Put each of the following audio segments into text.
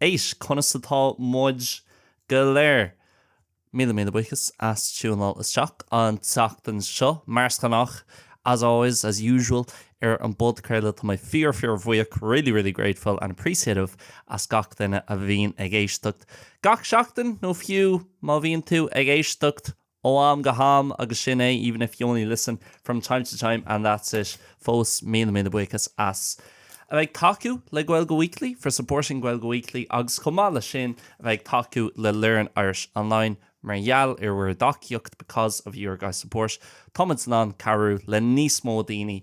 Conas atá muid go léir? Míle míle buíochas as tiúináil isteach an tseachtain seo. Mar is gnách, as always, as usual, ar an bpodchraoladh, tá mé fíor fíor bhuíoch, really really grateful and appreciative, as gach duine a bhíonn ag éisteacht gach seachtain, nó fiú má bhíonn tú ag éisteacht Ó am go ham, agus sin é, even if you only listen from time to time and that's it. Fós, míle míle buíochas as a bheith ag tacú le Gaeilge Weekly, for supporting Gaeilge Weekly, agus chomh maith leis sin, a bheith ag tacú le Learn Irish Online, mar gheall ar bhur dtacaíocht, because of your guys' support, táimid in ann cabhrú le níos mó daoine.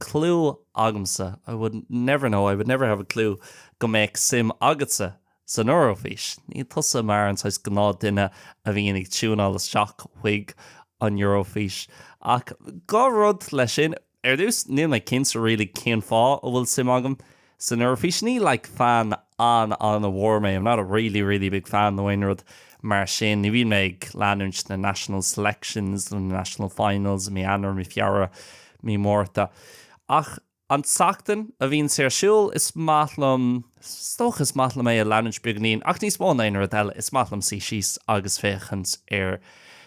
clue agamsa I would never know, I would never have a clue go mbeadh suim agatsa san Eoraifís. Ní tusa mar an saghas gnáth duine a bhíonn ag tiúineáil isteach chuig an Eoraifís. Ach dhá rud leis sin, ar dtús níl mé cinnte really cén fáth a bhfuil suim agam San Eoraifís, ní like fan an-an-mhór mé, I'm not a really, really big fan nó aon rud mar sin, ní bhíonn mé ag leanúint na national selections nó na national finals i mí Eanáir, mí Feabhra, mí Márta. Ach an tseachtain a bhíonn sé ar siúl, is maith liom, is dócha, is maith liom é a leanúint beagainín. Ach níos mó ná aon rud eile, is maith liom suí síos agus féachaint ar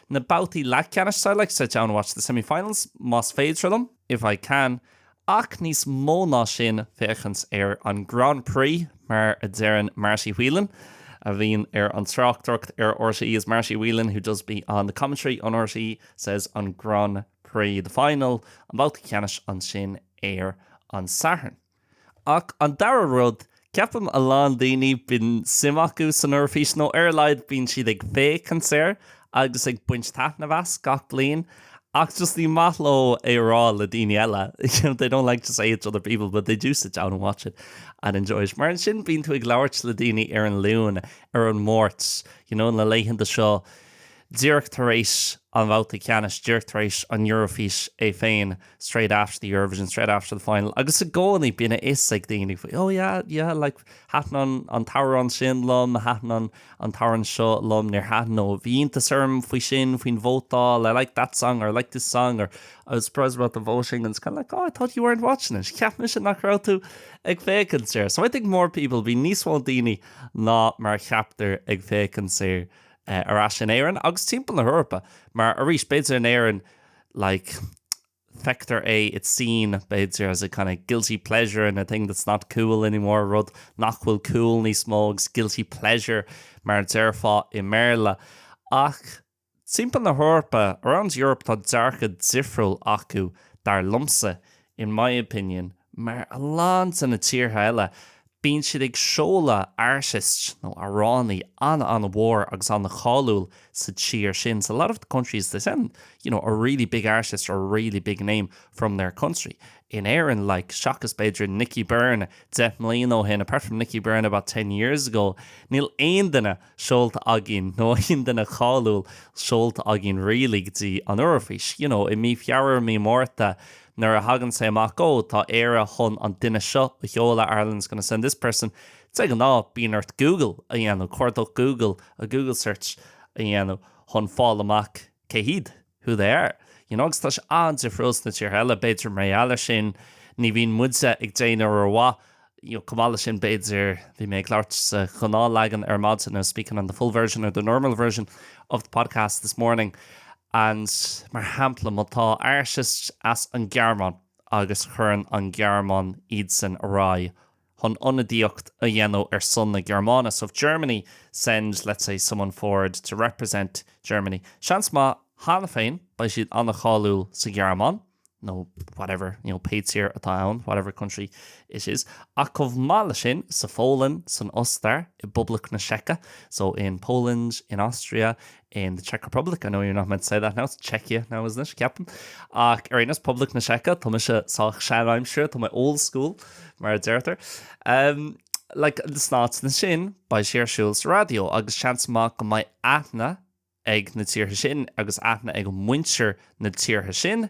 na babhtaí leathcheannais, so I like to sit down and watch the semi-finals, más féidir liom. if I can, ach níos mó ná sin féachaint ar an Grand Prix, mar a deireann Marty Whelan, a bhíonn ar an tráchtaireacht ar RTÉ, as Marty Whelan who does be on the commentary on RTÉ says an Grand Prix, the final, an babhta ceannais ansin ar an Satharn. Ach an dara rud, ceapaim a lán daoine, bíonn suim acu san Eoraifís, nó ar a laghad bíonn siad ag féachaint air agus ag baint taitneamh as gach bliain, ach just ní maith leo é a rá le daoine eile, they don't like to say it to other people but they do sit down and watch it and enjoy it. Mar ansin bíonn tú ag labhairt le daoine ar an Luan, ar an Máirt, you know, na laethanta seo díreach tar éis an bhabhta ceannais, díreach tar éis an Eoraifís é féin, straight after the Eurovision, straight after the final agus i gcónaí bíonn a fhios ag daoine faoi oh yeah, yeah like thaitin an t-amhrán sin liom, thaitin an an t-amhrán seo liom, níor thaitin nó bhí iontas orm faoi sin, faoin vótáil, I like that song or I like this song or I was surprised about the voting and it's kind of like oh I thought you weren't watching it, cheap mise nach raibh tú ag féachaint air. So I think more people, bíonn níos mó daoine ná mar a cheaptar ag féachaint air ar ais in Éirinn agus timpeall na hEorpa mar arís b'fhéidir in Éirinn like feictear é it's seen b'fhéidir as a kind of guilty pleasure and a thing that's not cool anymore, rud nach bhfuil cool níos mó agus guilty pleasure mar a déarfá i mBéarla. Ach timpeall na hEorpa, around Europe, tá dearcadh difriúil acu dar liomsa In my opinion, mar a lán de na tíortha eile, bíonn siad ag seoladh artists nó amhránaí an-an-mhór agus an-cháiliúil sa tír sin. So a lot of the countries, they send you know a really big artist or a really big name from their country. In Éirinn, like, seachas b'fhéidir Nicky Byrne deich mbliana ó shin, apart from Nicky Byrne about ten years ago, níl aon duine, seolta againn, nó aon duine cáiliúil seolta againn really, go dtí an Eoraifís, you know, i mí Feabhra, mí Márta, nuair a thagann sé amach, oh, tá Éire chun an duine seo a sheoladh, Ireland's gonna send this person. De ghnáth, bíonn ort Google a dhéanamh, cuardach Google, a Google search a dhéanamh chun fáil amach. cé hiad? who they are, you know agus tá sé an-difriúil sna tíortha eile, b'fhéidir mar gheall air sin, ní bhíonn muide ag déanamh rómhaith you know chomh maith leis sin b'fhéidir bhí mé ag labhairt sa ghnáth leagan ar maidin I was speaking on the full version or the normal version of the podcast this morning and mar shampla má tá artist as an Gearmáin agus cuireann an Gearmáin iadsan ar aghaidh chun ionadaíocht a dhéanamh ar son na Gearmáine so if Germany send let's say someone forward to represent Germany seans maith cheana féin beidh siad an-cháiliúil sa Ghearmáin nó whatever you know pé tír atá ann whatever country it is ach chomh maith leis sin sa Pholainn san Ostair i bPoblacht na Seice so in Poland in Austria in the Czech Republic, I know you're not meant to say that now, it's Czechia now isn't it, ceapaim, ach ar aon nós, Poblacht na Seice, tá mise sách seanaimseartha, tá mé old school, mar a deirtear. Umm, like, sna háiteanna sin, beidh sí ar siúl sa raidió, agus seans maith go mbeidh aithne ag na tíortha sin, agus aithne ag muintir na tíortha sin,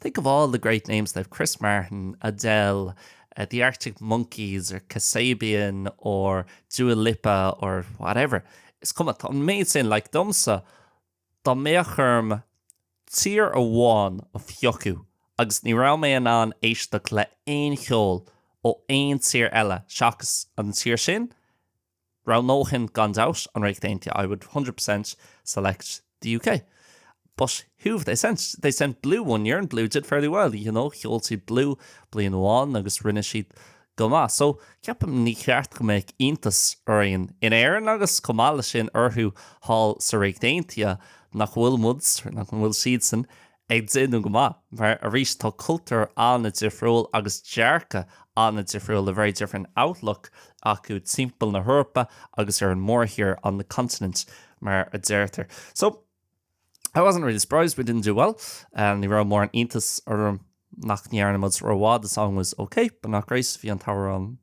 Think of all the great names they've Chris Martin, Adele, the Arctic Monkeys or Kasabian or Dua Lipa or whatever. Is cuma, tá an méid sin, like, domsa, dá mbeadh orm tír amháin a phiocadh agus ní raibh mé in ann éisteacht le haon cheol ó aon tír eile seachas an tír sin, Roghnóinn gan dabht an Ríocht Aontaithe, I would hundred percent select the UK. But who have they sent? They sent Blue one year and Blue did fairly well, you know. Sheol siad Blue bliain amháin agus rinne siad go maith. So, ceapaim ní cheart go mbeadh iontas orainn in Éirinn agus chomh maith leis sin orthu thall sa Ríocht Aontaithe nach bhfuil muid, nach bhfuil siadsan, ag déanamh go maith mar arís tá cultúr an-difriúil agus dearcadh an-difriúil, a very different outlook, acu timpeall na hEorpa agus ar an mórthír, on the continent, mar a deirtear. So, I wasn't really surprised we didn't do well, ní raibh mórán iontas orm nach ndearna muid rómhaith, the song was okay but not great, bhí an t-amhrán,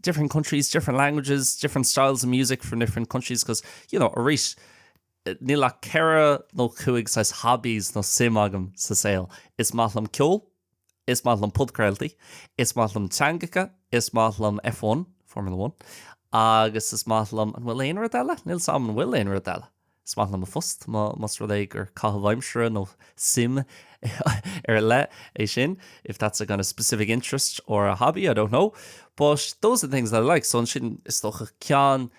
different countries, different languages, different styles of music from different countries because, you know, arís níl ach ceithre nó cúig saghas hobbies nó suim agam sa saol. Is maith liom ceol, is maith liom podchraoltaí, is maith liom teangacha, is maith liom F1, Formula One, agus is maith liom, an bhfuil aon rud eile? Níl a fhios agam an bhfuil aon rud eile. Is maith liom mo phost, más rud é gur caitheamh aimsire nó suim ar leith é sin, if that's a kind of specific interest or a hobby, I don't know, but those are the things that I like. So ansin, is dócha, ceann,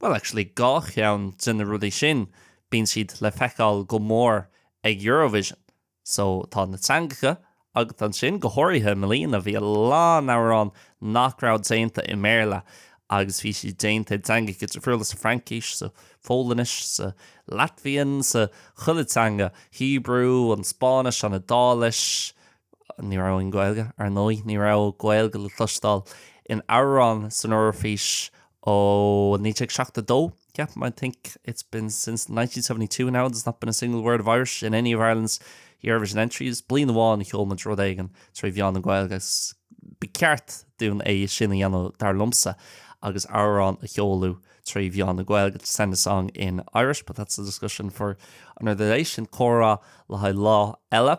bhuel, actually, dhá cheann de na rudaí sin, bíonn siad le feiceáil go mór ag Eurovision. So, tá na teangacha, agus ansin go háirithe i mbliana bhí a lán amhrán nach raibh déanta i mBéarla agus bhí sé déanta i dteangacha difriúla, sa Fraincis, sa Pholainnis, sa Latvian, sa, chuile teanga, Hebrew, an Spáinnis, an Iodáilis, ní raibh aon Gaeilge, ar ndóigh, ní raibh Gaeilge le cloisteáil in amhrán san Eoraifís ó 1972. Yeah, I think it's been since nineteen seventy two now there's not been a single word of Irish in any of Ireland's Eurovision entries. Bliain amháin a sheol muid rud éigin trí mheán na Gaeilge, ba cheart dúinn é sin a dhéanamh dar liomsa agus amhrán a sheoladh trí mheán na Gaeilge, to send a song in Irish, but that's a discussion for another day. Sin comhrá le haghaidh lá eile.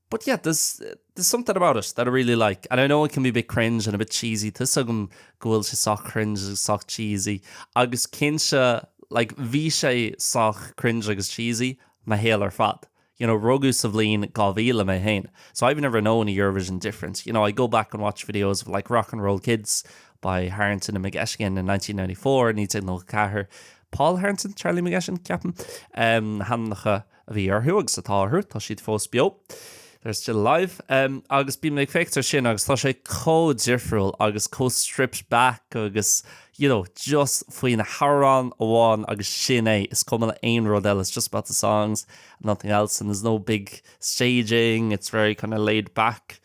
But yeah, there's there's something about it that I really like and I know it can be a bit cringe and a bit cheesy, tá a fhios agam go bhfuil sé sách cringe agus sách cheesy agus cinnte like bhí sé sách cringe agus cheesy mo shaol ar fad. You know, rugadh sa bhliain 2000 mé féin, so I've never known a Eurovision different. You know, I go back and watch videos of like Rock 'n' Roll Kids by Harrington and McGettigan in 1994, 1994, Paul Harrington, Charlie McGettigan, ceapaim, na hainmneacha a bhí orthu agus atá orthu, tá siad fós beo, they're still alive, agus bím ag féachaint ar sin agus tá sé chomh difriúil agus chomh stripped back agus you know just faoi na hamhráin amháin agus sin é, is cuma le aon rud eile, it's just about the songs and nothing else and there's no big staging, it's very kind of laid back.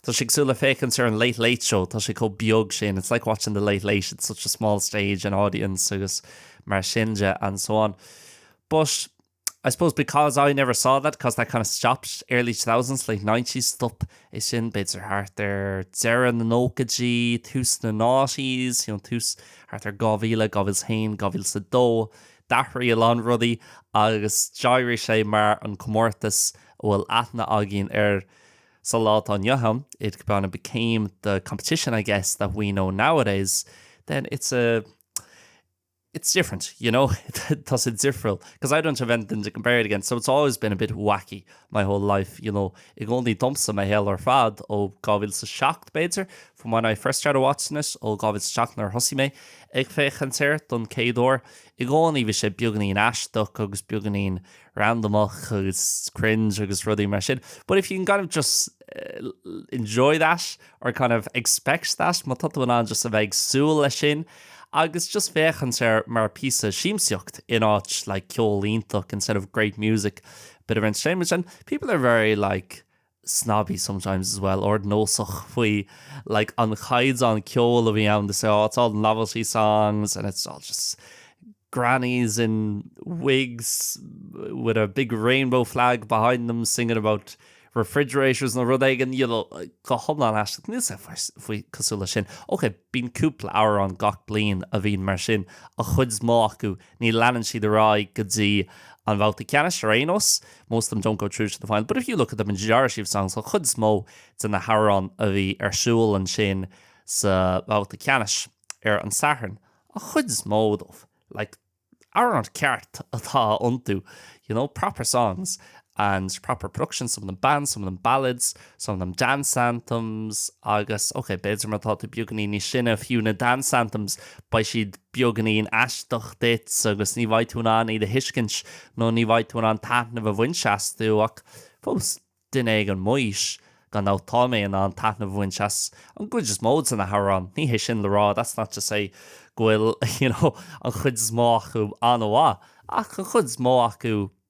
Tá sé cosúil le féachaint ar an Late Late Show, tá sé chomh beag sin, it's like watching the Late Late, it's such a small stage and audience agus mar sin de and so on. But I suppose because I never saw that because that kind of stopped early two thousands, late nineties stop sé sin b'fhéidir thart ar deireadh na nóchaidí, tús na noughties, you know, tús thart ar 2000, 2001, 2002. D'athraigh a lán rudaí agus d'éirigh sé mar an comórtas a bhfuil aithne againn air sa lá atá inniu ann, it kind of became the competition, I guess, that we know nowadays. Then it's a, it's different, you know, tá sé difriúil, because I don't have anything to compare it against, so it's always been a bit wacky my whole life, you know, i gcónaí domsa mo shaol ar fad ó 2007 b'fhéidir, from when I first started watching it ó 2007 nuair a thosaigh mé ag féachaint air don chéad uair, i gcónaí bhí sé beagáinín aisteach agus beagáinín randamach agus cringe agus rudaí mar sin but if you can kind of just enjoy that or kind of expect that má tá tú in ann just a bheith ag súil leis sin agus just féachaint air mar píosa siamsaíocht in áit like ceol iontach instead of great music bit of entertainment and people are very like snobby sometimes as well, ardnósach faoi like an chaighdeán ceoil a bhí ann to say oh it's all novelty songs and it's all just grannies in wigs with a big rainbow flag behind them singing about refrigerators nó rud éigin, you know, go hiomlán aisteach. Níl sé fiú cosúil leis sin. Ok, bíonn cúpla amhrán gach bliain a bhíonn mar sin, an chuid is mó acu ní leanann siad ar aghaidh go dtí an bhabhta ceannais ar aon nós most of them don't go through to the final, but if you look at the majority of songs an chuid is mó de na hamhráin a bhí ar siúl ansin sa bhabhta ceannais ar an Satharn an chuid is mó díobh like amhráin ceart atá iontu you know proper songs and proper production, some of them bands, some of them ballads, some of them dance anthems agus ok, b'fhéidir má tá tú beagáinín níos sine fiú na dance anthems beidh siad beagáinín aisteach duit agus ní bheidh tú in ann iad a thuiscint nó ní bheidh tú in ann taitneamh a bhaint astu ach fós duine ag an m'aois gan dabht tá mé in ann taitneamh a bhaint as an gcuid is mó de na hamhráin. Ní hé sin le rá that's not to say go bhfuil you know an chuid is mó acu an-mhaith ach an chuid is mó acu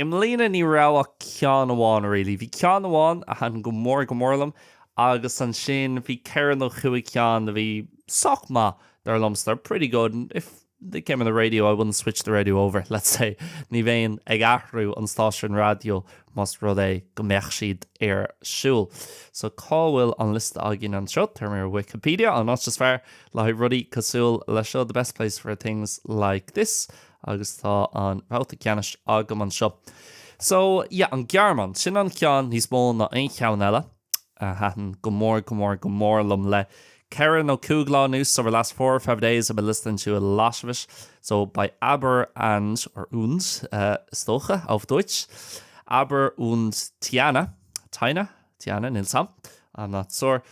I mbliana ní raibh ach ceann amháin really. Bhí ceann amháin a thaitn go mór go mór liom agus ansin bhí ceithre nó cúig ceann a bhí sách maith dar liomsa, they were pretty good and if they came on the radio I wouldn't switch the radio over, let's say. Ní bheinn ag athrú an stáisiúin raidió más rud é go mbeadh siad ar siúl. So cá bhfuil an liosta againn anseo? Téimid ar Wikipedia, an áit is fearr le haghaidh rudaí cosúil leis seo, the best place for things like this. Agus tá an babhta ceannais agam anseo. So, yeah, an Ghearmáin, sin an ceann níos mó ná aon cheann eile a thaitin go mór, go mór, go mór liom le ceithre nó cúig lá anuas, over the last four or five days I've been listening to it a little bit. So, by Abor and, or und, is dócha, auf Deutsch, Abor und Tynna, Tynna, Tynna, níl a fhios agam, I'm not sure,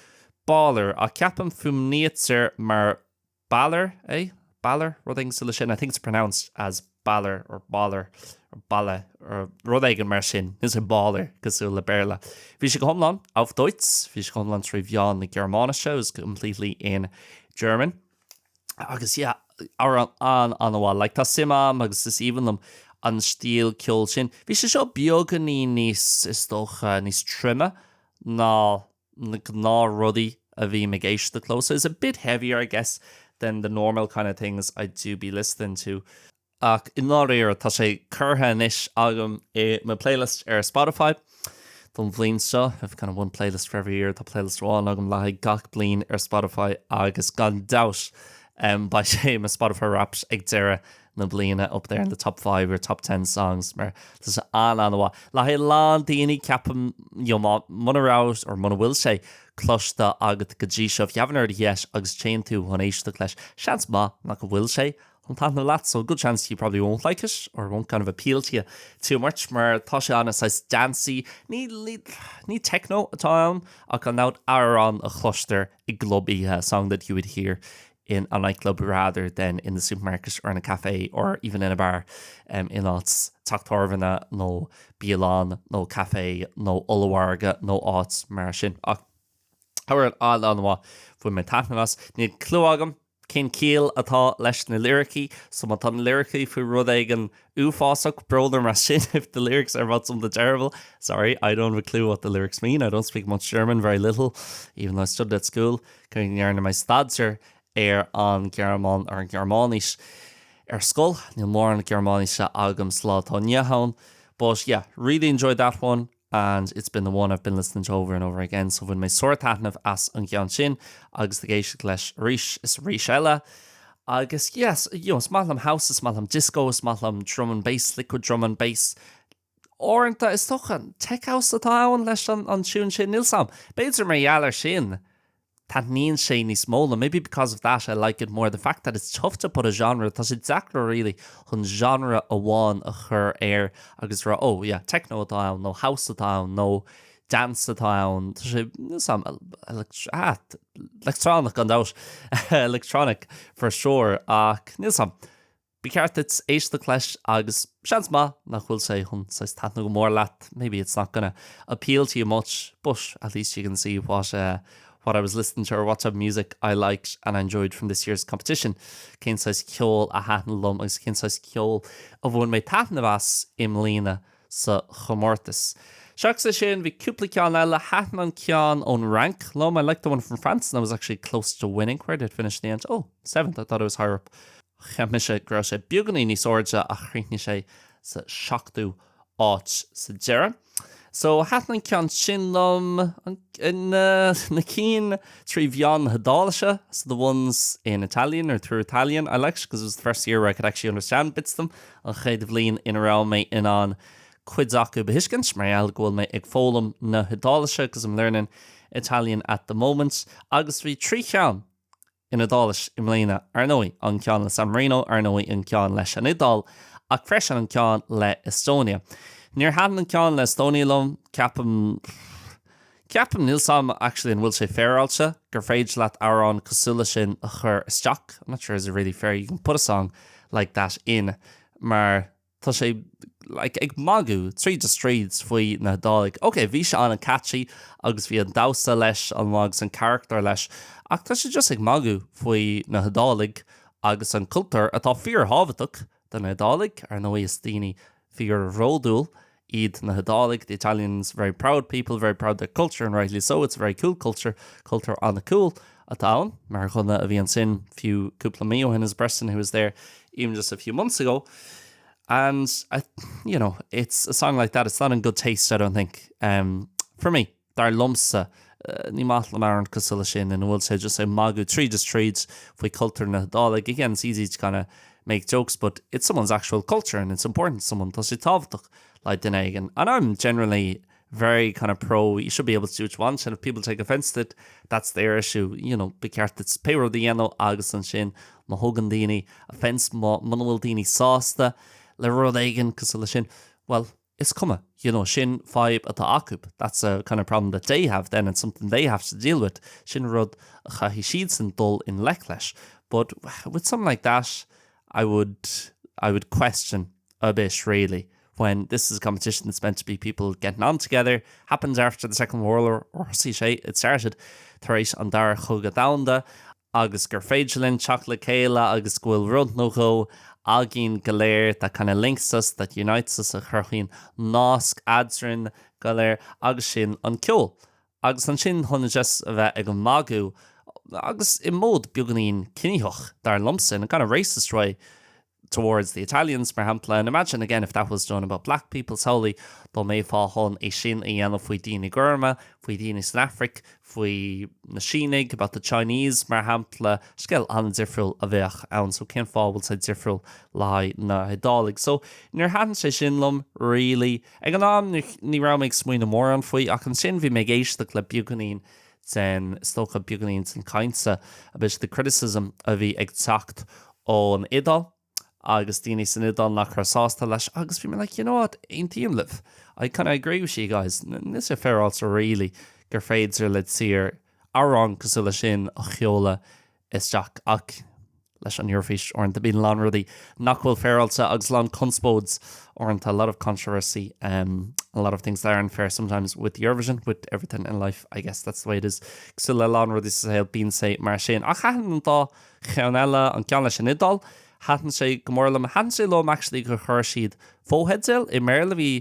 Baller, ach ceapaim fuaimnítear mar Balor é, Balor, rud éigin cosúil le sin, I think it's pronounced as Balor or Bollar or Balla or rud éigin mar sin, níl sé Balor cosúil le Béarla. Bhí sé go hiomlán auf Deutsch, bhí sé go hiomlán trí mheán na Gearmáinise, it was completely in German. Agus yeah, amhrán an-an-mhaith, like tá suim a'm agus is aoibhinn liom an stíl ceoil sin. Bhí sé seo beagáinín níos, is dócha, níos troime ná na gnáthrudaí a bhím ag éisteacht leo, so it's a bit heavier I guess than the normal kind of things I do be listening to ach i ndáiríre tá sé curtha anois agam i mo playlist ar Spotify don bhliain seo, I've kind of one playlist for every year, tá playlist amháin agam le haghaidh gach bliain ar Spotify agus gan dabht beidh sé i mo Spotify Wrapped ag deireadh na bliana up there in the top five or top ten songs mar tá sé an-an-mhaith le haghaidh a lán daoine ceapaim you know má muna raibh or muna bhfuil sé cloiste agat go dtí seo if you haven't heard it yet agus téann tú chun éisteacht leis seans maith nach a bhfuil sé chun taithneamh leat so good chance you probably won't like it or it won't kind of appeal to you too much mar tá sé ana saghas dancey ní ní ní techno atá ann ach an-an-mhaith amhrán a chloistear i gclub oíche a song that you would hear in a nightclub rather than in the supermarket or in a café or even in a bar in áit teach tábhairne nó bialann nó caife nó ollmhargadh nó áit mar sin ach however, an-an-mhaith bhain mé taitneamh as. Níl clue agam cén ciall atá leis na liricí, so má tá na liricí faoi rud éigin Uafásach, brón orm mar sin if the lyrics are about something terrible, sorry, I don't have a clue what the lyrics mean, I don't speak much German, very little, even though I studied at school, cé go ndearna mé staidéar ar an ar an Gearmáinis ar scoil, níl mórán Gearmáinise agam sa lá atá inniu ann, but yeah, really enjoyed that one. and it's been the one I've been listening to over and over again so bhain mé an-taitneamh as an gceann sin agus ag éisteacht leis arís is arís eile agus yes you know is maith liom house is maith liom disco is maith liom drum and bass liquid drum and bass uaireanta is dócha an tech house atá ann leis an an tiún sin níl a fhios agam b'fhéidir mar gheall ar sin Taitníonn sé níos mó liom, maybe because of that I like it more, the fact that it's tough to put a genre, tá sé deacair really chun genre amháin a chur air agus rá oh yeah techno atá ann nó house atá ann nó dance atá ann, tá sé níl a fhios agam electronic gan dabht electronic for sure ach níl a fhios agam. Ba cheart duit éisteacht leis agus seans maith nach bhfuil sé chun saghas taitneamh go mór leat, maybe it's not gonna appeal to you much, but at least you can see what uh what I was listening to or what type of music I liked and enjoyed from this year's competition. Cén saghas ceol a thaitneann liom agus cén saghas ceol a bhain mé taitneamh as i mbliana sa chomórtas. Seachas é sin, bhí cúpla ceann eile, thaitin an ceann ón Fhrainc liom, I liked the one from France and that was actually close to winning, where did it finish in the end? Oh, seventh, I thought it was higher up. Cheap mise go raibh sé beagáinín níos airde ach chríochnaigh sé sa seachtú áit sa deireadh. So thaitin an ceann sin liom. Na cinn trí mheán na hIodáilise, so the ones in Italian or through Italian, I liked because it was the first year where I could actually understand bits of them, an chéad bhliain ina raibh mé in ann cuid acu a thuiscint mar gheall go bhfuil mé ag foghlaim na hIodáilise because I'm learning Italian at the moment. Agus bhí trí cheann. in Iodáilis i mbliana, ar ndóigh, an ceann le San Marino, ar ndóigh, an ceann leis an Iodáil, ach freisin an ceann le Estonia. Níor thaitin an ceann le Estonia liom, ceapaim. Ceapaim, níl 's agam actually an bhfuil sé féaráilte, gur féidir leat amhrán cosúil leis sin a chur isteach, I'm not sure is it really fair, you can put a song like that in, mar. Tá sé, like, ag magadh tríd is tríd faoi na hIodálaigh. Ok, bhí sé an-catchy agus bhí an damhsa leis an-mhaith agus an carachtar leis, ach tá sé just ag magadh faoi na hIodálaigh agus an cultúr, atá fíor-thábhachtach do na hIodálaigh, ar ndóigh. Is daoine fíorbhródúil iad na hIodálaigh, the Italians, very proud people, very proud of their culture, and rightly so, it's a very cool culture, cultúr an-cool. atá ann. Mar dhuine a bhí ansin fiú cúpla mí ó shin as a person who was there even just a few months ago and I you know it's a song like that it's not in good taste I don't think um for me dar liomsa ní maith liom amhrán cosúil leis sin ina bhfuil sé just ag magadh tríd is tríd faoi cultúr na hIodálaigh. Again it's easy to kinda make jokes but it's someone's actual culture and it's important to someone tá sé tábhachtach le duine éigin and really very kind of pro you should be able to do what you want and if people take offence to it that's their issue you know ba cheart duit pé rud a dhéanamh agus ansin má thugann daoine offence má muna bhfuil daoine sásta le rud éigin cosúil leis sin bhuel is cuma you know sin fadhb atá acu that's a kind of problem that they have then and something they have to deal with sin rud a chaithfidh siadsan dul i ngleic leis but with something like that I would I would question a bit really. when this is a competition that's meant to be people getting on together, happened after the Second World War, ar thosaigh sé, it started, tar éis an Dara Cogadh Domhanda, agus gur féidir linn teacht le chéile agus go bhfuil rud nó dhó againn go léir that kind of links us, that unites us, a chruthaíonn nasc eadrainn go léir, agus sin an ceol. Agus ansin chun just a bheith ag magadh, agus i mód beagáinín ciníoch, dar liomsa, in a kind of racist way, towards the Italians, mar shampla, and imagine again if that was done about black people solely, dá mbeifeá chun é sin a dhéanamh faoi daoine gorma, faoi dhaoine san Afraic, faoi na Sínigh, about the Chinese, mar shampla, scéal an-difriúil a bheadh ann. So cén fáth a bhfuil sé difriúil le haghaidh na hIodálaigh? So níor thaitin sé sin liom, really. Ag an am, ní raibh mé ag smaoineamh mórán faoi, ach ansin bhí mé ag éisteacht le beagáinín den, is dócha, beagáinín den chaint seo, a bit of the criticism, a bhí ag teacht ón Iodáil agus daoine san Iodáil nach raibh sásta leis agus bhí mé like you know what, aontaím libh, I kind of agree with you guys, is it fair also really gur féidir le tír amhrán cosúil leis sin a sheoladh isteach. Ach leis an Eurofís uaireanta bíonn a lán rudaí nach bhfuil féaráilte agus a lán conspóide uaireanta, a lot of controversy, em, a lot of things that aren't fair sometimes with Eurovision, with everything in life, I guess that's the way it is. Cosúil le a lán rudaí sa saol bíonn sé mar sin. Ach thaitin an dá cheann eile, an ceann leis an Iodáil, thaitin sé go mór liom. Thaitin sé liom actually gur chuir siad fo-theideal i mBéarla. Bhí,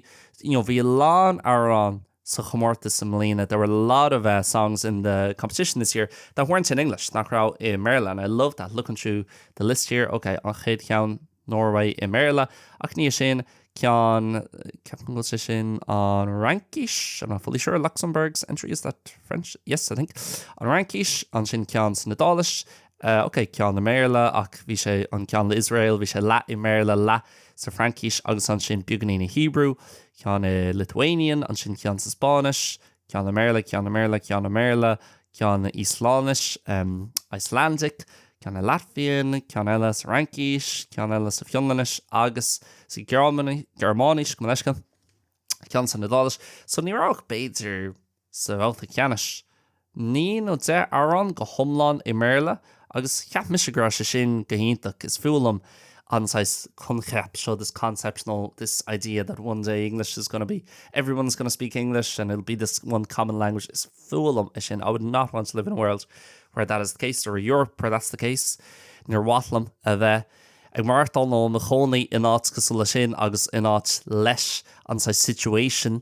you know, bhí a lán amhrán. sa chomórtas i mbliana, there were a lot of eh songs in the competition this year that weren't in English, nach raibh i mBéarla and I loved that, looking through the list here, ok, an chéad cheann, Norway i mBéarla, ach ina dhiaidh sin ceann, ceapaim go bhfuil sé sin an Fhraincis, I'm not fully sure, Luxembourg's entry, is that French? Yes, I think. An Fhraincis, ansin ceann san Iodáilis, Eh, ok, ceann i mBéarla, ach bhí sé, an ceann le Iosrael, bhí sé leath i mBéarla, leath sa Fraincis, agus ansin beagainín i Hebrew, ceann i Lithuanian, ansin ceann sa Spáinnis, ceann i mBéarla, ceann i mBéarla, ceann i mBéarla, ceann i Íoslainnis, em, Icelandic, ceann i Latvian, ceann eile sa Fhraincis, ceann eile sa Fionlainnis, agus sa Ghearmáinis, Gearmáinis, gabh mo leithscéal, ceann san Iodáilis. So ní raibh ach b'fhéidir. sa bhabhta ceannais. Naoi nó deich amhrán go hiomlán i mBéarla agus cheap mise go raibh sé sin go hiontach. Is fuath liom an saghas coincheapa seo, this concept nó this idea that one day English is gonna be, everyone is gonna speak English and it'll be this one common language. Is fuath liom é sin, I would not want to live in a world where that is the case or a Europe where that's the case. Níor mhaith liom a bheith ag maireachtáil nó i mo chónaí in áit cosúil leis sin agus in áit leis an saghas situation,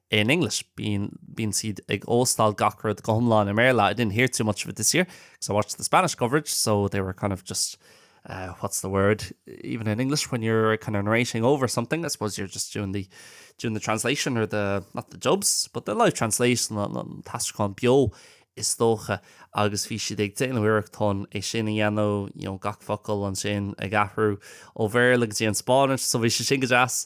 in English, bíonn siad ag óstáil gach rud go hiomlán i mBéarla, I didn't hear too much of it this year, because I watched the Spanish coverage, so they were kind of just, uh, what's the word, even in English when you're kind of narrating over something, I suppose you're just doing the, doing the translation or the, not the dubs, but the live translation, an, an t-aistriúchán beo, is dócha, agus bhí siad ag déanamh iarrachtáin é sin a dhéanamh, you know, gach focal ansin ag athrú ó Bhéarla go dtí an Spáinnis, so bhí sé sin go deas.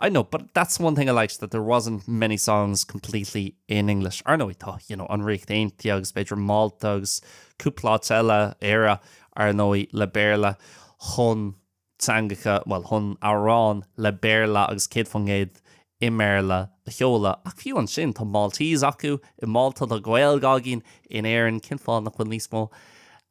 I know, but that's one thing I liked, that there wasn't many songs completely in English. Ar ndóigh, tá, you know, an Ríocht Aontaithe agus b'fhéidir Málta agus cúpla áit eile, Éire, ar ndóigh, le Béarla chun teangacha, bhuel, chun amhráin le Béarla agus céad faoin gcéad i mBéarla a sheoladh. Ach fiú ansin, tá Maltese acu i Málta, tá Gaeilge againn in Éirinn, cén fáth nach bhfuil níos mó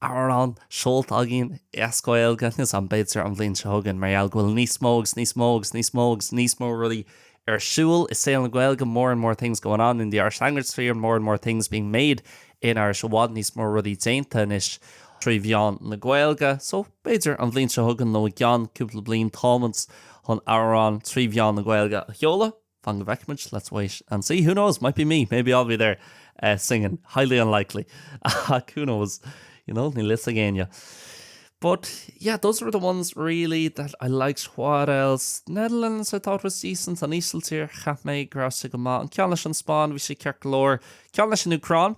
amhrán seolta againn as Gaeilge níos, am, b'fhéidir, an bhliain seo chugainn mar gheall go bhfuil níos mó agus níos mó agus níos mó agus níos mó rudaí ar siúl i saol na Gaeilge more and more things going on in the Irish language sphere, more and more things being made in Irish i bhfad níos mó rudaí déanta anois trí mheán na Gaeilge so, b'fhéidir, an bhliain seo chugainn nó i gceann cúpla bliain táimid chun amhrán trí mheán na Gaeilge a sheoladh. Fan go bhfeicfidh muid, let's wait and see. Who knows, might be me, maybe I'll be there singing. Highly unlikely, ach who knows, you know, níl fhios ag éinne. But yeah, those were the ones really that I liked. What else? Netherlands I thought was decent, an Ísiltír cheap mé gur raibh sé go maith, an ceann leis an Spáinn bhí sé ceart go leor, ceann leis an Úcráin,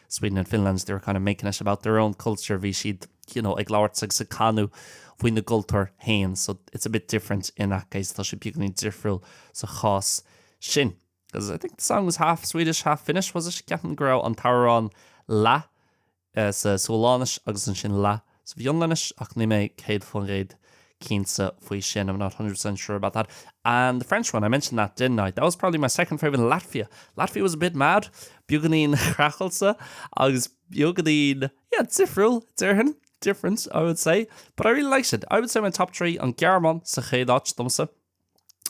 Sweden and Finland, they were kind of making it about their own culture, bhí siad you know, ag labhairt agus ag canadh faoina gcultúr féin, so it's a bit different in that case, tá sé beagán difriúil sa chás sin. Because I think the song was half Swedish, half Finnish, was it? Ceapaim go raibh an t-amhrán leath uh, sa Sualainnis agus ansin leath sa bhFionlainnis, ach níl mé 100% cinnte faoi sin, I'm not 100% sure about that, and the French one, I mentioned that, didn't I? That was probably my second favourite, and Latvia. Latvia was a bit mad, beagáinín craiceáilte agus beagáinín, yeah, difriúil, déarfainn, different, I would say, but I really liked it. I would say my top three, an Ghearmáin sa chéad áit domsa,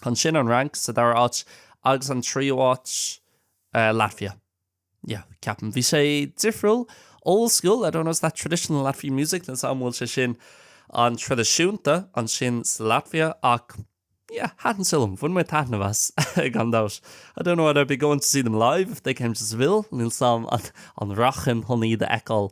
ansin an Fhrainc sa dara áit agus an tríú áit, eh, Latvia. yeah, ceapaim. Bhí sé difriúil, old school, I don't know is that traditional Latvian music, níl 's agam an bhfuil sé sin an-traidisiúnta ansin sa Latvia ach yeah, thaitin sé liom, bhain mé taitneamh as gan dabht. I don't know whether I'd be going to see them live if they came to Seville, níl 's agam an rachainn chun iad a fheiceáil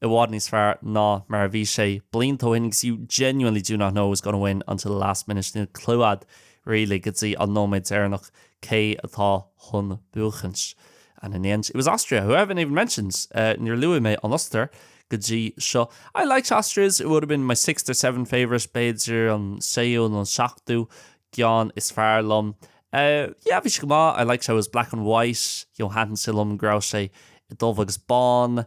i bhfad níos fearr ná mar a bhí sé blianta ó shin agus you genuinely do not know who's going to win until the last minute, níl clue agat really go dtí an nóiméad deireanach cé atá chun buachaint. And in the end it was Austria, who I haven't even mentioned, níor luaigh mé an Ostair go dtí seo. I liked Austria's, it would have been my sixth or seventh favourite, b'fhéidir an séú nó an seachtú ceann is fearr liom. Yeah, bhí sé go maith, I liked how it was black and white, you know, thaitin sé liom go raibh sé dubh agus bán.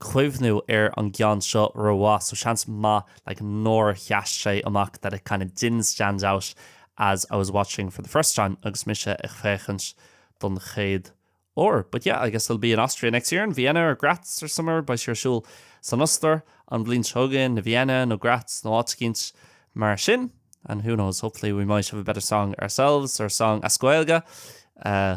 cuimhniú ar an gceann seo rómhaith so seans maith like nár sheas sé amach that it kind of didn't stand out as I was watching for the first time agus mise ag féachaint don chéad uair but yeah I guess it'll be in Austria next year in Vienna or Graz or somewhere beidh sé ar siúl san Ostair an bhliain seo chugainn i Vienna nó Graz nó áit éicint mar sin and who knows hopefully we might have a better song ourselves or song as Gaeilge uh,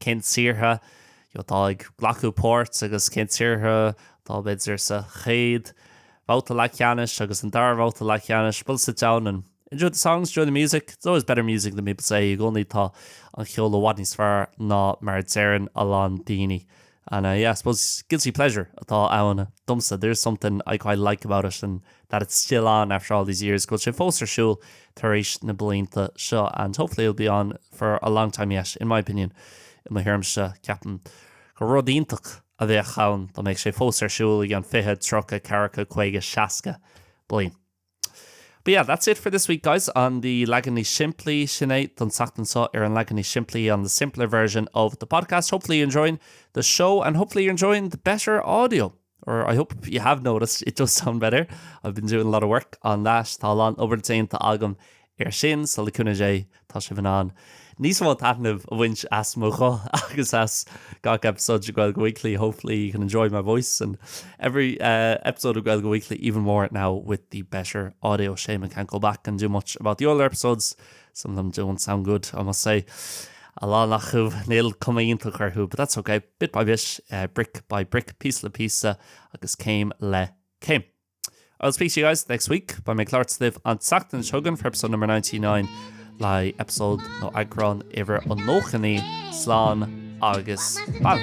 cén tíortha atá ag glacadh páirt agus cén tíortha atá b'fhéidir sa chéad bhabhta leathcheannais agus an dara babhta leathcheannais bhuel sit down and enjoy the songs, enjoy the music, it's always better music than people say i gcónaí tá an cheol i bhfad níos fearr ná mar a deireann a lán daoine and uh yeah I suppose guilty pleasure atá ann domsa there is something I quite like about it and that it's still on after all these years go bhfuil sé fós ar siúl tar éis na blianta seo, and hopefully it'll be on for a long time yet, in my opinion. I mo thuairimse, ceapaim gur rud iontach a bheadh ann dá mbeadh sé fós ar siúl i fiche, tríocha, ceathracha, caoga, seasca bliain. But yeah, that's it for this week guys on the leagan níos simplí, sin é don tseachtain seo ar an leagan níos simplí on the simpler version of the podcast. Hopefully you're enjoying the show and hopefully you're enjoying the better audio. or I hope you have noticed, it does sound better. I've been doing a lot of work on that. Tá a lán obair déanta agam ar sin, sula gcoinneoidh é, tá sibh in ann níos mó taitnimh a bhaint as mo ghuth agus as gach episode de Gaeilge Weekly. Hopefully you can enjoy my voice and every uh, episode of Gaeilge Weekly even more now with the better audio. Shame I can't go back and do much about the older episodes, Some of them don't sound good, I must say. A lán acu, níl cuma iontach orthu, but that's okay, bit by bit, brick by brick, píosa le píosa agus céim le céim. I'll speak to you guys next week, beidh mé ag labhairt libh an tseachtain seo chugainn for episode number 99, le episode nó eagrán uimhir 99. Slán agus bail!